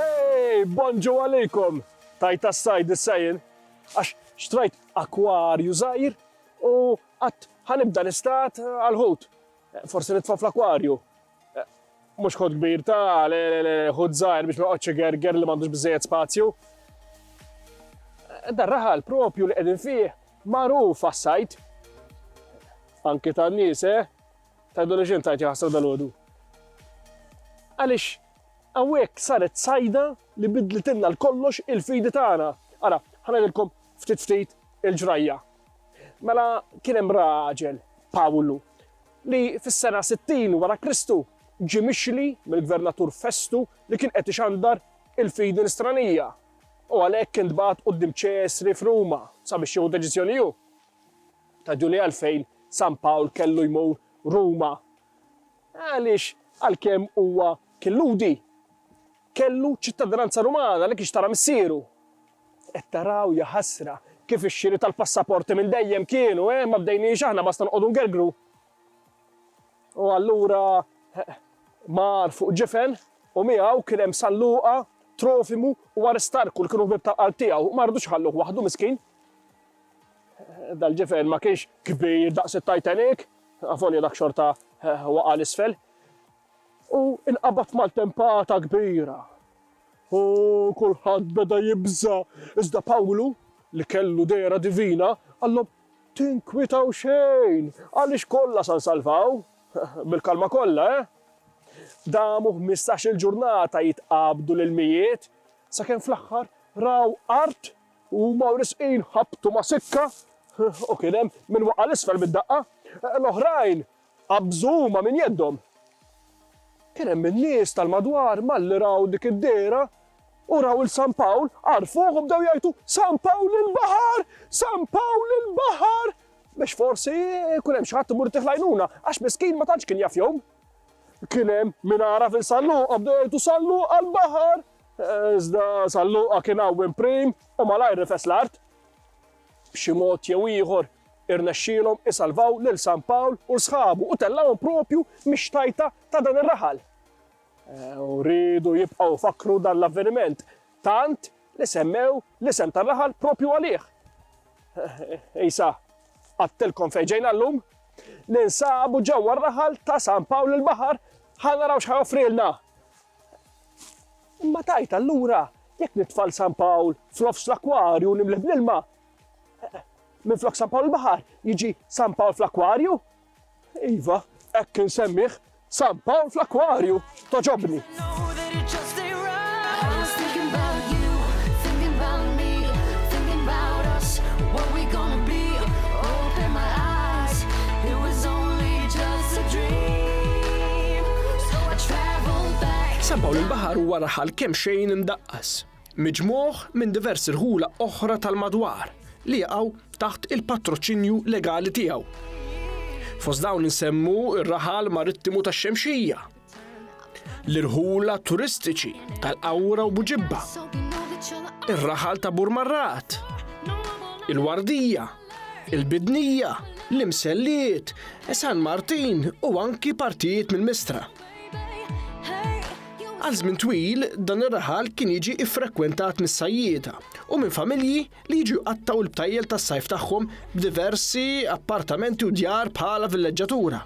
Ej, bonġu għalikom! Tajt għas-sajd is-sajn, għax xtrajt akwarju zaħir u għat ħanibda l-istat għal-ħut. Eh, forsi nitfa fl-akwarju. Eh, mux ħut kbir ta' le le le ħut zaħir biex ma għodċi gerger li mandux bizzejet spazju. Eh, Dar raħal propju li għedin fih Magħruf għas-sajd, anki tan-nies, eh? Tgħidu li x'intajt jaħsra dalgħodu. Għaliex hawnhekk saret sajda li bidlitilna l-kollox il-fidi tagħna. Ara, ħanedilkom ftit ftit il-ġrajja. Mela kien hemm raġel, Pawlu, li fis-sena 60 wara Kristu ġie mixli mill-gvernatur Festu li kien qed ixandar il-fidi nisranija. U għalhekk intbagħat quddiem Ċesri f'Ruma sabiex jieħu deċiżjoni hu. Raġuni għalfejn San Pawl kellu jmur Ruma għaliex għalkemm huwa kien Lhudi, kellu ċittadinanza Rumana li kien xtara missieru. Qed taraw ja ħasra kif ix-xiri tal-passaporti minn dejjem kienu, eh, ma bdejniex aħna basta noqogħdu ngergru. U allura mar fuq ġifen, u miegħu kien hemm San Luqa, Trofimu u Aristarku li kienu ħbieb tal-qalb tiegħu. Ma ridux iħalluh waħdu miskin. Dal-ġifen ma kienx kbir daqs it-Titanic, avolja dak xorta waqa' l-isfel. U inqabad mal-tempata kbira. U kulħadd beda jibża. Iżda Pawlu, li kellu dera divina, qallhom, Tinkwitaw xejn, għaliex kollha sa nsalvaw. Bil-kalma kollha, eh? Damu ħmistax-il ġurnata jitqabdu l-ilmijiet, sakemm fl-aħħar raw art u huma wrisqin ħabtu ma' sikka u kien hemm min waqa' 'l isfel mid-daqqa. L-oħrajn Qabżu huma minn jeddhom. Kien hemm in-nies tal-madwar malli raw dik id-dehra u raw 'il San Pawl, għarfuh u bdew jgħajtu, San Pawl il-baħar! San Pawl il-baħar! Biex forsi jkun hemm xi ħadd imur itih l-għajnuna, għax miskin ma tantx kien jaf jgħum. Kien hemm min għaraf 'il San Luqa bdew jgħajtu, San Luqa l-baħar! Iżda San Luqa kien għawwiem prim u malajr rifes l-art. B'xi mod jew ieħor Irnexxielhom isalvaw lil San Pawl u sħabu u tellgħuhom proprju mix-xtajta ta' dan ir-raħal. U riedu jibqgħu jfakkru dan l-avveniment tant li semmew l-isem tar-raħal proprju għalih. Isa, għadtilkom fejn ġejna llum? Ninsabu ġewwa r-raħal ta' San Pawl il-Baħar ħa naraw x'ħa joffrilna. Imma tajt allura jekk nitfal San Pawl f'nofs l-akwarju nimlih bl-ilma, Minflok San Pawl il-Baħar jiġi San Pawl fl-Akwarju? Iva, hekk insemmih San Pawl fl-Akwarju, toġobni. San Pawl il-Baħar huwa raħal kemm xejn imdaqqas. miġmugħ minn diversi rħula oħra tal-madwar li jaqgħu taħt il-patroċinju legali tiegħu. Fost dawn insemmu r-raħal marittimu tax-Xemxija, l-irħula turistiċi tal-Qawra u Buġibba, ir-raħal ta' Burmarrat, il-Wardija, il-Bidnija, l-Imselliet, San Martin u anki partijiet mill-Mistra. Għal żmien twil, dan ir-raħal kien jiġi ffrekkwentat mis-sajjieda u minn familji li jiġu jqattgħu l-btajjel tas-sajf tagħhom b'diversi appartamenti u djar bħala villeġġatura.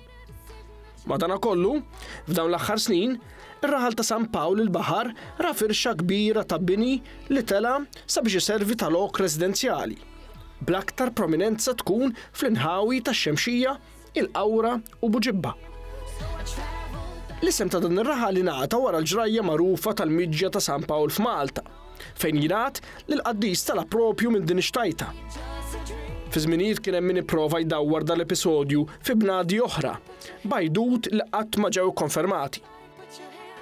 Madankollu, f'dawn l-aħħar snin, ir-raħal ta' San Pawl il-Baħar ra firxa kbira ta' bini li tela' sabiex iservi ta' lok residenzjali, bl-aktar prominenza tkun fl-inħawi tax-Xemxija il-Qawra u Buġibba. L-isem ta' dan ir-raħal ingħata wara l-ġrajja magħrufa tal-miġja ta' San Pawl f'Malta, fejn jingħad li l-qaddis tala' propju minn din ix-xtajta. Fi żminijiet kien hemm min ipprova jdawwar dal-episodju fi bnadi oħra, b'għajdut li qatt ma ġew ikkonfermati.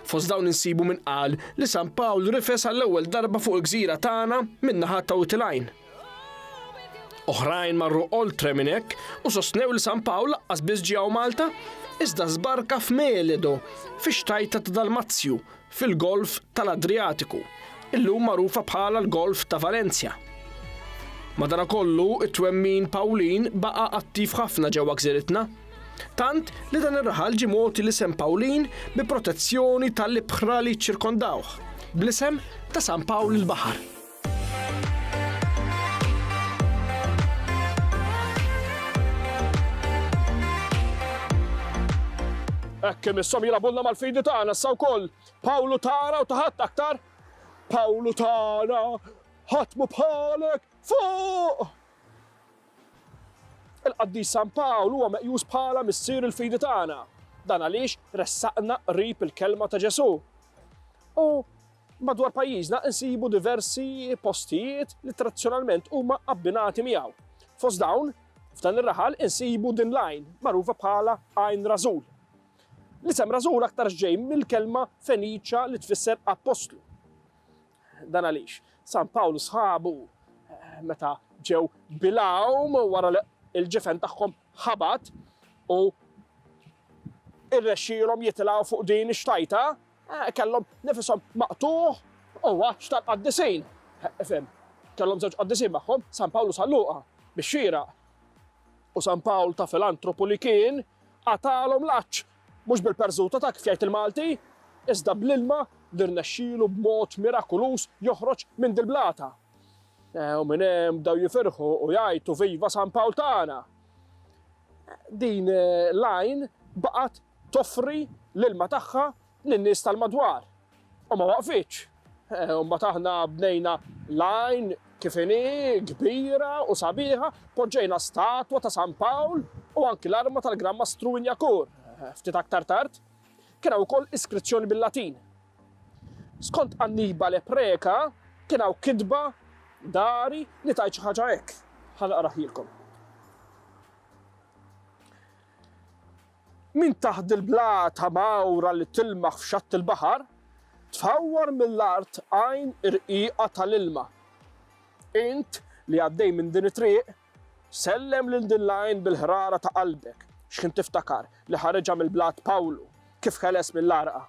Fost dawn insibu min qal li San Pawl rifes għall-ewwel darba fuq il-gżira tagħna min-naħat ta' Witilgħajn. Oħrajn marru oltre minn hekk u sostnew li San Pawl laqqas biss ġew Malta, iżda żbarka f'Meledo, fix-xtajta ta' Dalmazju, fil-Golf tal-Adriatiku, illum magħrufa bħala l-Golf ta' Valencia. Madanakollu, it-twemmin Pawlin baqa' attiv ħafna ġewwa gżiritna. Tant li dan ir-raħal ġie mogħti l-isem Pawlin bi protezzjoni tal-ibħra li ċċirkondawh, bl-isem ta' San Pawl il-Baħar. Hekk imisshom jilagħbulna mal-fidi tagħna issa wkoll. Pawlu tagħna u taħat aktar. Pawlu tagħna ħatmu bħalek fuq! Il-qaddis San Pawl huwa meqjus bħala missier il-fidi tagħna. Dan għaliex ressaqna qrib il-kelma ta' Ġesu. U Madwar pajjiżna insibu diversi postijiet li tradizzjonalment huma abbinati miegħu. Fost dawn, f'dan ir-raħal insibu din l-għajn, magħrufa bħala Għajn Rażul. L-isem Rażul aktarx ġej mill-kelma Feniċja li tfisser appostlu. Dan għaliex San Pawl u sħabu meta ġew bilgħum wara li l-ġifen tagħhom ħabat u irrexxielhom jitilgħu fuq din ix-xtajta Kellhom nifishom maqtugħ u għatx tal-qaddisin. Ifhem, kellhom żewġ qaddisin magħhom, San Pawl u San Luqa, bix-xieraq. U San Pawl ta' filantropu li kien, qatalhom l-għatx, mhux bil-perżuta ta' kif jgħid il-Malti, iżda bl-ilma li rnexxielu b'mod mirakuluż joħroġ minn dil-blata. U minn hemm bdew jifirħu u jgħajtu viva San Pawl tagħna! Din l-għajn baqgħet toffri l-ilma tagħha lin-nies tal-madwar u ma waqfitx. Imbagħad aħna bnejna l-għajn kif inhi, kbira u sabiħa, poġġejna statwa ta' San Pawl u anki l-arma tal-Gran Mastru Inyakur. Ftit aktar tard, kien hawn ukoll iskrizzjoni bil-Latin. Skont Annibale Preca, kien hawn kitba, dairy, li tgħid xi ħaġa hekk. Ħa naqrah lilkom. Minn taħt dil-blata mgħawra li tilmaħ f'xatt il-baħar, tfawwar mill-art għajn irqiqa tal-ilma. Int li għaddej minn din it-triq, Sellem lil din l-għajn bil-ħrara ta' qalbek, x'ħin tiftakar li ħareġha mill-blat Pawlu, kif ħeles mill-għarqa.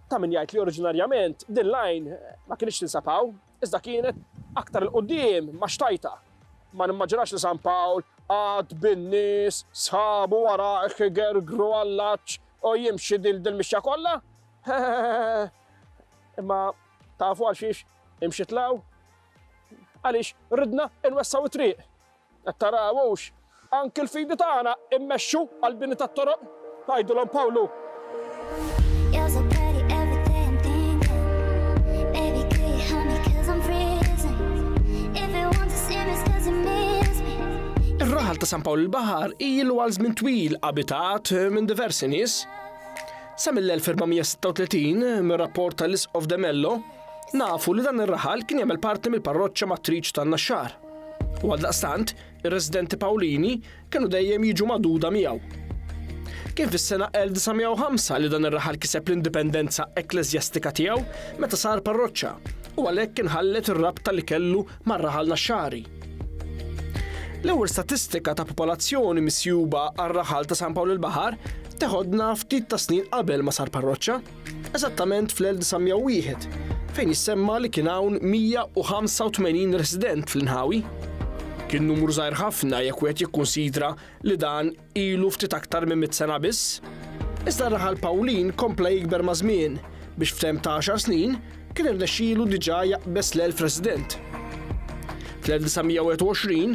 Ta' min jgħid li oriġinarjament din l-għajn ma kinitx tinsab hawn, iżda kienet aktar 'il quddiem ma' xtajta. Ma nimmaġinax li San Pawl qagħad bin-nies, sħabu warajh igergru għall-għatx u jimxi dil dil-mixja kollha. Imma tafu għal xiex imxi tlaw? Għaliex ridna nwessaw it-triq. Qed taraw hux anki l-fidi tagħna immexxu għall-bini tat-toroq, tgħidilhom Pawlu. Ir-raħal ta' San Pawl il-Baħar ilu għal żmien twil abitat eh, minn diversi nies. Sa mill-1436 mir-rapport tal-Isqof Demello Nafu li dan ir-raħal kien jagħmel parti mill-parroċċa matriċ tan-Naxxar. U għaldaqstant, ir-residenti Pawlini kienu dejjem jiġu maduda miegħu. Kien fis-sena 1905 li dan ir-raħal kiseb l-indipendenza ekkleżjastika tiegħu meta sar parroċċa u għalhekk kien ħallet ir-rabta li kellu mar-raħal Naxxari. L-ewwel statistika ta' popolazzjoni misjuba għar-raħal ta' San Pawl il-Baħar teħodna ftit ta' snin qabel ma sar parroċċa. eżattament fl-1901, fejn jissemma li kien hawn 185 resident fl-inħawi. Kien numru żgħir ħafna jekk wieħed jikkunsidra li dan ilu ftit aktar minn mit sena biss. Iżda r-raħal Pawlin kompla jikber maż-żmien biex f'temp ta' għaxar snin kien irnexxielu diġà jaqbeż l-elf resident. Fl-1921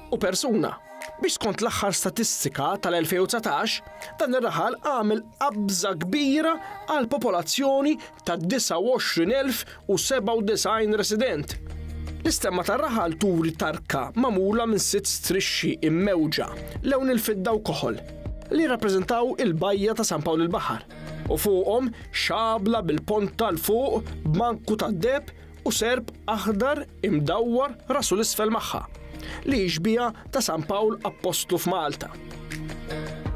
u persuna, biex skont l-aħħar statistika tal-2019, dan ir-raħal għamel qabża kbira għall-popolazzjoni ta' 29,097 resident. L-istemma tar-raħal turi tarka magħmula minn sitt strixxi immewġa lewn il-fidda u koħol li jirrappreżentaw il-bajja ta' San Pawl il-Baħar u fuqhom xabla bil-ponta l fuq b'manku tad-deheb u serp aħdar imdawwar rasu l-isfel magħha, li jixbiha ta' San Pawl Appostlu f'Malta.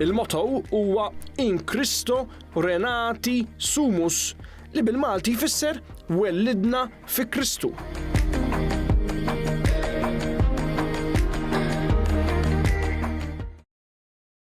Il-motto huwa In Cristo Renati Sumus, li bil-Malti jfisser Wellidna fi Kristu.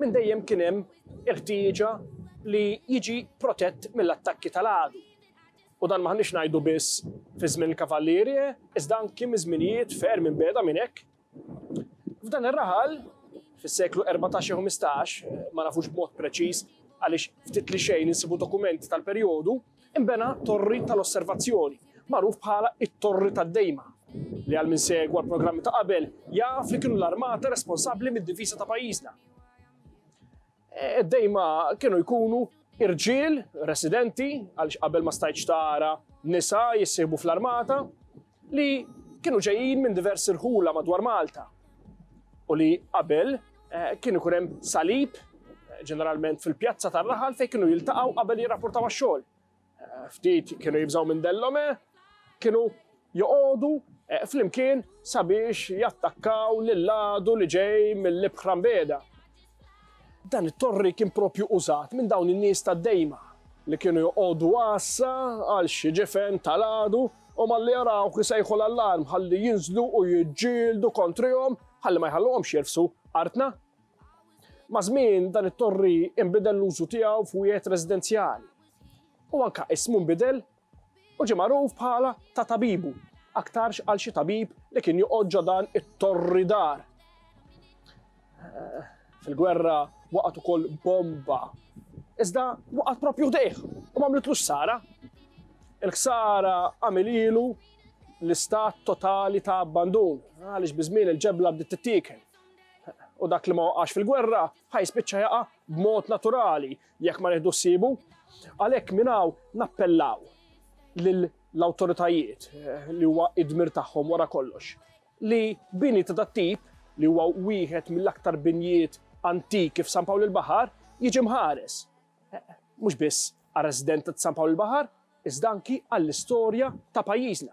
Minn dejjem kien hemm il-ħtieġa li jiġi protett mill-attakki tal-għadu. U dan m'aħniex ngħidu biss fi żmien il-Cavaliere, iżda anki minn żminijiet ferm imbiegħda minn hekk. F'dan ir-raħal, fis-seklu erbatax jew ħmistax, ma nafux b'mod preċiż għaliex ftit li xejn insibu dokumenti tal-perjodu, Inbena torri tal-osservazzjoni, magħruf bħala t-Torri tad-Dejma, li għal min segwa l-programmi ta' qabel jaf li kienu l-armata responsabbli mid-difiża ta' pajjiżna. Id-dejma e, kienu jkunu irġiel residenti għaliex qabel ma stajtx tara nisa jissieħbu fl-armata, li kienu ġejjin minn diversi rħula madwar Malta u li qabel eh, kien ikun hemm salib eh, ġeneralment fil-pjazza tar-raħal fejn kienu jiltaqgħu qabel jirrapportaw għax-xogħol. Eh, ftit kienu jibżgħu minn dellome, kienu joqogħdu flimkien sabiex jattakkaw lill-għadu li ġej mill-ibħra mbeda. Dan it-torri kien proprju użat minn dawn in-nies tad-dejma li kienu joqogħdu għassa għal xi ġifen tal-għadu u malli jarawh isejħu l-allarm ħalli jinżlu u jiġġieldu kontrihom ħalli ma jħalluhomx jirfsu artna. Ma' żmien dan it-torri inbidel l-użu tiegħu f'wieħed residenzjali. U anka ismu nbidel u ġie magħruf bħala ta' tabibu aktarx għal xi tabib li kien joqgħod ġo dan it-torri dar. Fil-gwerra waqgħet ukoll bomba. Iżda waqgħet propju ħdejh u m'għamlitlux ħsara. Il-ħsara għamililu l-istat totali ta' abbandun għaliex biżmien il-ġebla bdiet tittikel. U dak li ma waqax fil-gwerra ħaj spiċċa jaqa' b'mod naturali jekk ma nieħdu ssibu. Għalhekk minn hawn nappellaw lill-awtoritajiet eh, li huwa id-dmir tagħhom wara kollox li bini ta' tip li huwa wieħed mill-aktar binjiet antiki f'San Pawl il-Baħar jiġi mħares. Eh, mhux biss għal resident ta' San Pawl il-Baħar, iżda anki għall-istorja ta' pajjiżna.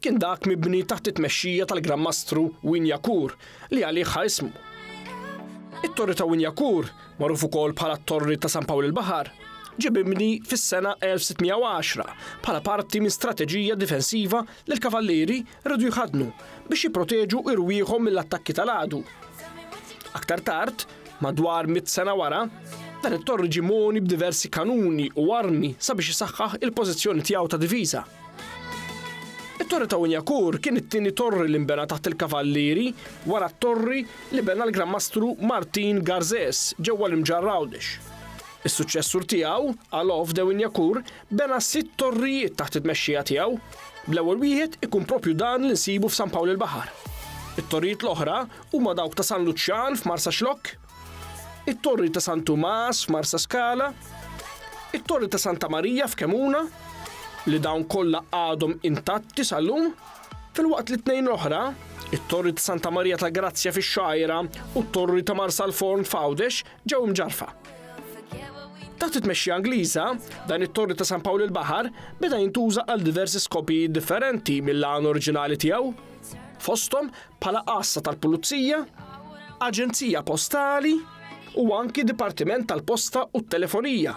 kien dak mibni taħt it-tmexxija tal-Gran Mastru Win Yakur li għalih ħa ismu. It-Torri ta' Win Yakur, magħruf ukoll bħala t-Torri ta' San Pawl il-Baħar, ġie mibni fis-sena 1610 bħala parti minn strateġija difensiva li l-kavallieri rridu jħaddnu biex jipproteġu irwieħhom mill-attakki tal-għadu. Aktar tard, Madwar mitt sena wara, dan it-Tor ġie mogħni b'diversi kanuni u armi sabiex isaħħaħ il-pożizzjoni tiegħu ta' diviża. It-Torri ta' Unjakur kien it-tieni torri li nbena taħt il-Kavallieri wara t-torri li bena l-Gran Mastru Martin Garżez ġewwa l-Imġarr Għawdex. Is-suċċessur tiegħu, Alof de Unjakur, bena sitt torrijiet taħt it-tmexxija tiegħu, bl-ewwel wieħed ikun proprju dan li nsibu f'San Pawl il-Baħar. It-torrijiet l-oħra huma dawk ta' San Luċjan f'Marsaxlokk, it-Torri ta' San Tumas f'Marsaskala, it-Torri ta' Santa Marija f'Kemuna, li dawn kollha għadhom intatti sal-lum, filwaqt li tnejn l-oħra, it-Torri ta' Santa Marija ta' Grazzja fix-Xgħajra u t-Torri ta' Marsalforn f'Għawdex ġew imġarrfa. Taħt it-tmexxija Ingliża, dan it-Torri ta' San Pawl il-Baħar beda jintuża għal diversi skopijiet differenti mill-għan oriġinali tiegħu, fosthom bħala għassa tal-pulizija, aġenzija postali u anki dipartiment tal-posta u t-telefonija.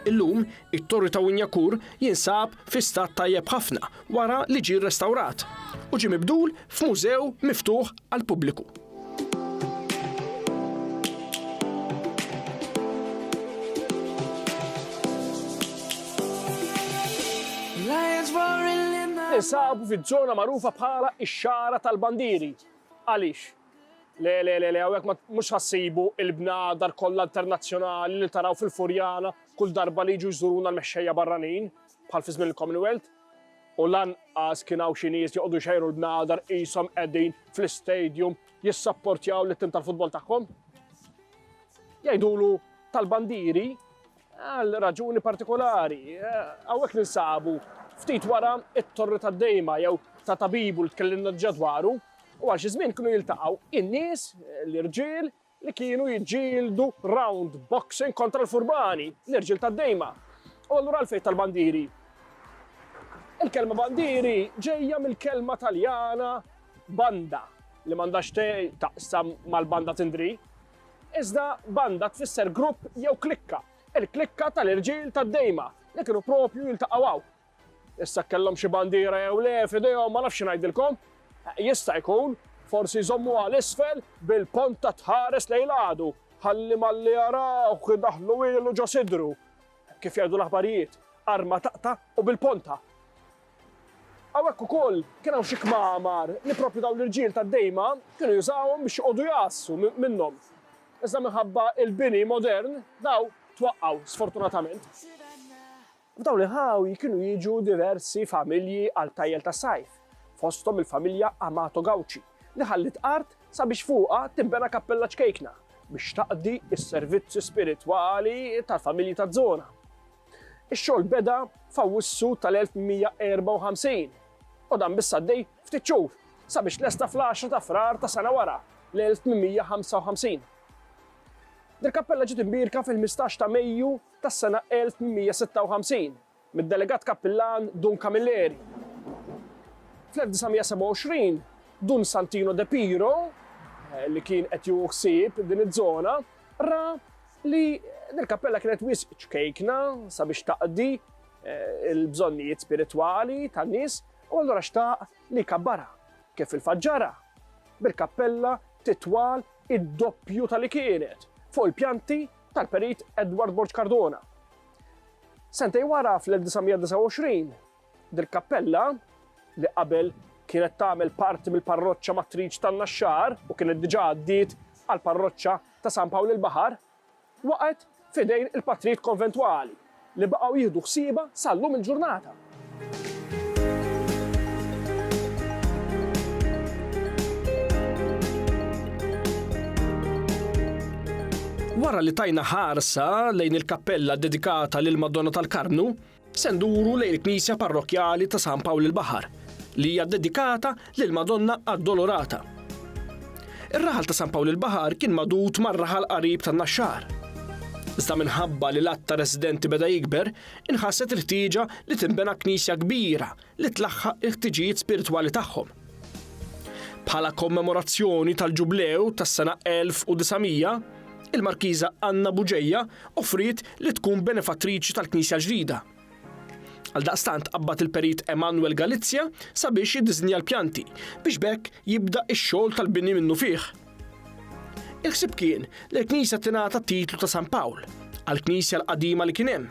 Illum, it-torri ta' Winjakur jinsab fi stat tajjeb ħafna wara li ġie restawrat u ġie mibdul f'mużew miftuħ għall-pubbliku. Ninsabu fiż-żona magħrufa bħala x-Xagħra tal-Bandieri. Għaliex? Le, le, le, le, hawnhekk ma mhux ħassibu il-bnadar kollha internazzjonali li taraw fil-Furjana kull darba li jiġu jżuruna l-mexxejja barranin bħal fi żmien il-Commonwealth. U lanqas kien hawn xi nies joqogħdu jxejru l-bnadar qishom qegħdin fl-istadium jissapportjaw lit-tim tal-futbol tagħhom. Jgħidulu tal-bandieri Għal raġuni partikolari, hawnhekk ninsabu ftit wara t-Torri tad-Dejma jew ta' Tabibu li tkellimna diġà dwaru, u għal xi żmien kienu jiltaqgħu in-nies, l-irġiel, li kienu jiġġieldu round boxing kontra l-furbani, l-irġiel tad-Dejma. U allura għalfejn tal-bandieri? Il-kelma bandieri ġejja mill-kelma Taljana banda, li m'għandha x'taqsam mal-banda tindri, Iżda banda tfisser grupp jew klikka, il-klikka tal-irġiel tad-dejma li kienu proprju jiltaqgħu hawn. Issa jekk kellhom xi bandiera jew le f'idejhom ma nafx xi ngħidilkom. Jista' jkun, forsi jżommuha l-isfel bil-ponta tħares lejn l-għadu ħalli malli jarawh idaħħlu ilu ġo sidru. Kif jgħidu l-aħbarijiet, arma taqta' u bil-ponta. Hawnhekk ukoll kien hawn xi kmamar li proprju dawn l-irġiel tad-dejma kienu jużawhom biex joqogħdu jgħassu minnhom. Iżda minħabba l-bini modern dawn twaqqgħu sfortunatament. F'dawn il-ħawi kienu jiġu diversi familji għal tajjel tas-sajf, fosthom il-familja Amato Gauci li ħalliet art sabiex fuqha tinbena kappella ċkejkna biex taqdi s-servizzi spiritwali tal-familji taż-żona. Ix-xogħol beda f'Awwissu tal-1154 u dan biss għaddej ftit xhur sabiex lesta fl-10 ta' Frar ta' sena wara, l-1855. Dil-kappella ġiet imbierka fil-15 ta' Mejju tas-sena 1856 mid-delegat kappillan Dun Camilleri. Fl-1927, Dun Santino De Piro, li kien qed jieħu ħsieb din iż-żona, ra li dil-kappella kienet wisq ċkejkna sabiex taqdi eh, il-bżonnijiet spiritwali tan-nies u allura xtaq li jkabbarha kif il-faġġara bil-kappella titwal id-doppju tal-li kienet fuq il-pjanti tal-perit Edward Borg Cardona. Sentej wara fl-1929, dil-kappella li qabel kienet tagħmel parti mill-parroċċa matriċ tan-Naxxar u kienet diġà għaddiet għal parroċċa ta' San Pawl il-Baħar waqgħet f'idejn il-patrijiet konventwali li baqgħu jieħdu ħsiebha sa llum il-ġurnata. Wara li tajna ħarsa lejn il-kappella ddedikata lill-Madonna tal-Karmnu, Se nduru lejn il-Knisja Parrokkjali ta' San Pawl il-Baħar, li hija ddedikata lil Madonna Addolorata. Ir-raħal ta' San Pawl il-Baħar kien magħdud mar-raħal qarib tan-Naxxar. Iżda minħabba li l-għadd ta' residenti beda jikber, inħasset il-ħtieġa li tinbena knisja kbira li tlaħħaq il-ħtiġijiet spiritwali tagħhom. Bħala kommemorazzjoni tal-Ġublew tas-sena 1900, il-Markiża Anna Buġeja offriet li tkun benefattriċi tal-Knisja ġdida. Għaldaqstant qabad il-perit Emanuel Galizja sabiex jiddiżinja l-pjanti biex bekk jibda x-xogħol tal-bini minnu fih. Il-ħsieb kien li l-knisja tingħata t-titlu ta' San Pawl għall-knisja l-qadima li kien hemm.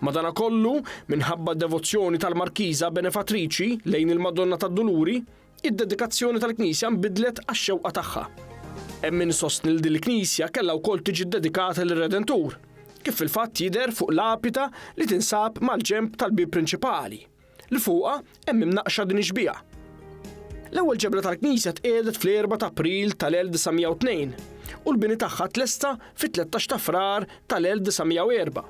Madanakollu, minħabba d-devozzjoni tal-Markiża benefattriċi lejn il-Madonna tad-Duluri, id-dedikazzjoni tal-knisja nbidlet għax-xewqa tagħha. Hemm min isostni li din il-knisja kellha wkoll tiġi ddedikata lir-Redentur, kif fil-fatt jidher fuq lapita li tinsab mal-ġenb tal-bieb prinċipali. li fuqha hemm imnaqqxa din ix-xbieha. L-ewwel ġebla tal-knisja tqiegħdet fl-4 ta' April tal-1902 u l-bini tagħha tlesta fit-13 ta' Frar tal-1904.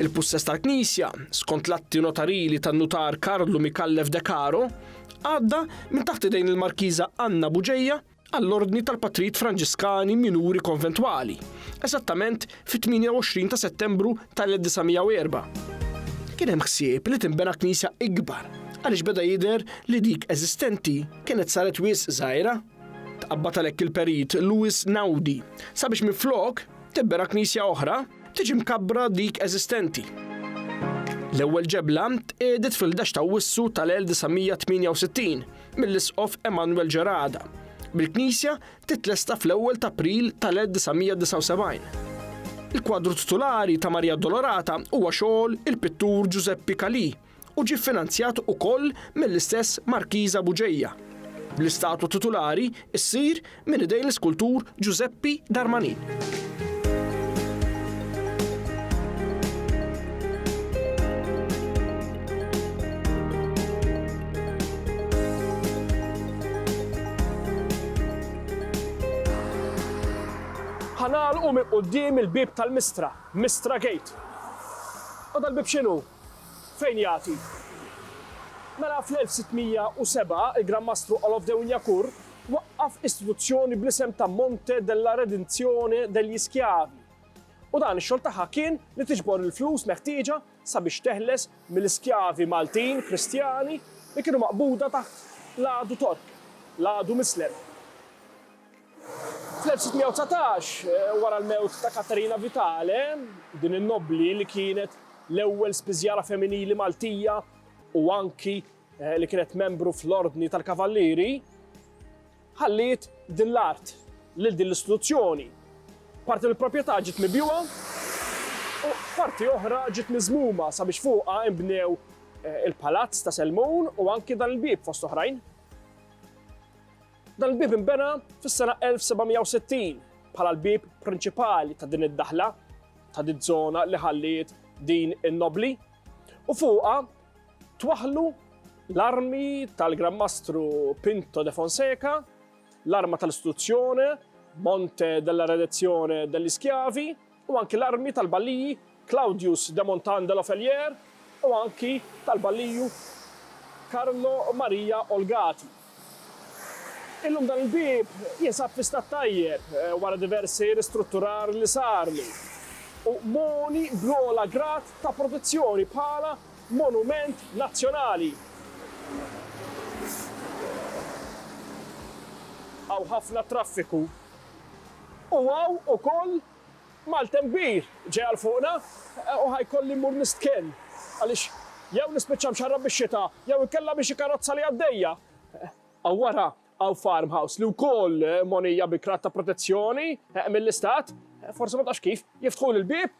Il-pussess tal-knisja, skont l-atti notarili tan-nutar Karlu Micallef de Caro, għadda minn taħt idejn il-Markiża Anna Buġeja, għall-Ordni tal-Patrijiet Franġiskani Minuri Konventwali, eżattament fit-28 ta' Settembru tal-1904. Kien hemm ħsieb li tinbena knisja ikbar għaliex beda jidher li dik eżistenti kienet saret wisq żgħira. Tqabbad għalhekk il-Perit Louis Naudi sabiex minflok tinbena knisja oħra, tiġi mkabbra dik eżistenti. L-ewwel ġebla tqiegħdet fil-ħdax t'Awwissu tal-1968. mill-Isqof Emmanuel Gerada, bil-knisja titlesta fl-ewwel ta' April tal-1979. Il-kwadru titulari ta' Marija Addolorata huwa xogħol il-pittur Ġużeppi Calì u ġie ffinanzjat ukoll mill-istess Markiża Buġeja. Bl-istatwa titulari ssir Minn idejn l-iskultur Ġużeppi Darmanin. Ħa nagħlqu minn quddiem il-bieb tal-Mistra, Mistra Gate. U dal-bieb x'inhu? Fejn jagħti? Mela fl-1607 il-Gran Mastru Olof de Wignacourt waqqaf istituzzjoni bl-isem ta' Monte della Redenzione degli Schiavi u dan ix-xogħol tagħha kien li tiġbor il-flus meħtieġa sabiex teħles mill-iskjavi Maltin Kristjani li kienu maqbuda taħt l-għadu Tork, l-għadu Mislem. Fl-1619, wara l-mewt ta' Katerina Vitale, din in-nobbli li kienet l-ewwel spiżjara femminili Maltija u anki li kienet membru fl-Ordni tal-Kavallieri, ħalliet din l-art lil din l-istituzzjoni. Parti mill-proprjetà ġiet mibjugħa u parti oħra ġiet miżmuma sabiex fuqha inbnew il-Palazz ta' Selmun u anki dan il-bieb fost oħrajn. Dan il-bieb inbena fis-sena 1760 bħala l-bieb prinċipali ta' din id-daħla, ta' din żona li ħalliet din in-nobbli, u fuqha twaħħlu l-armi tal-Gran Mastru Pinto de Fonseca, l-arma tal-istituzzjoni, Monte della Redenzione degli Schiavi, u anki l-armi tal-balliji Claudius de Montan de Loffelier u anki tal-balliju Carlo Maria Olgati. Illum dan il-bieb jinsab fi stat tajjeb wara diversi ristrutturar li sarlu u mogħni bl-ogħla grad ta' protezzjoni bħala Monument Nazzjonali. Hawn ħafna traffiku U hawn ukoll maltemp kbir ġej għal fuqna u ħa jkolli mmur nistkenn għaliex jew nispiċċa mxarrab bix-xita jew inkella bi xi karozza li għaddejja. Hawn wara hawn farmhouse li wkoll mgħonija bi krat ta' protezzjoni mill-istat. Forsi ma tafx kif, jiftħuli l-bieb